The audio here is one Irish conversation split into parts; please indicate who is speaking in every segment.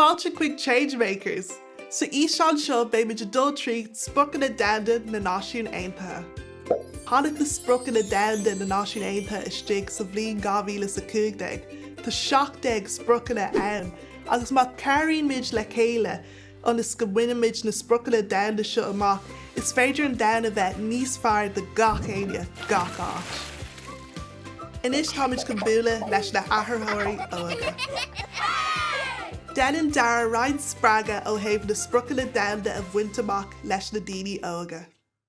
Speaker 1: Fáilte chuig Change Makers! Sa fhíseán seo beidh muid ag dul trí Spriocanna Domhanda na Náisiún Aontaithe. Tháinig na Spriocanna Domhanda na Náisiún Aontaithe istigh sa bhliain 2015. Tá 17 Spriocanna ann agus má cabhraíonn muid le chéile, ionas go mbainfimid na spriocanna domhanda seo amach, is féidir an domhan a bheith níos fearr do gach éinne, gach áit. Anois táimid chun bualadh leis na hathraitheoirí óige. Déanann Darragh roinnt spreagadh ó thaobh na spriocanna domhanda a bhaint amach leis na daoine óga.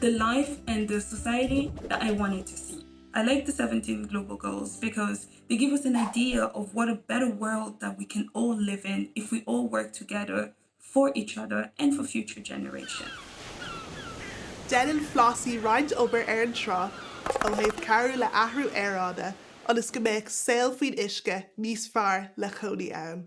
Speaker 2: the life and the society that I wanted to see. I like the 17 global goals because they give us an idea of what a better world that we can all live in if we all work together for each other and for future
Speaker 1: generations. Déanann Flossie roinnt obair ar an trá ó thaobh cabhrú le athrú aeráide ionas go mbeadh saol faoin uisce níos fearr le cónaí ann.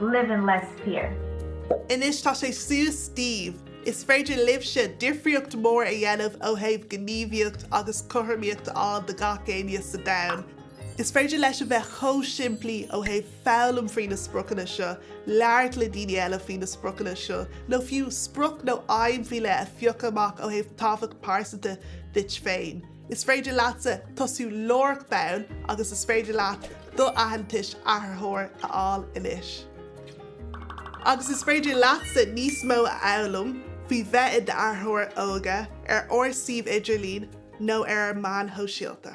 Speaker 3: live in less fear. Anois tá
Speaker 1: sé suas daoibh. Is féidir libhse difríocht mór a dhéanamh ó thaobh gníomhaíocht agus cothromaíocht a fháil do gach éinne sa domhan. Is féidir leis a bheith chomh simplí ó thaobh foghlaim faoi na spriocanna seo, labhairt le daoine eile faoi na spriocanna seo, nó fiú sprioc nó aidhm faoi leith a phiocadh amach ó thaobh tábhacht pearsanta duit féin. Is féidir leatsa tosú láithreach bonn agus is féidir leat do aitheantais athraitheoir a fháil anois. Agus is féidir leatsa níos mó a fhoghlaim faoi bheith i d'athraitheoir óige ar ár suíomh idirlín nó ar ár meáin shóisialta.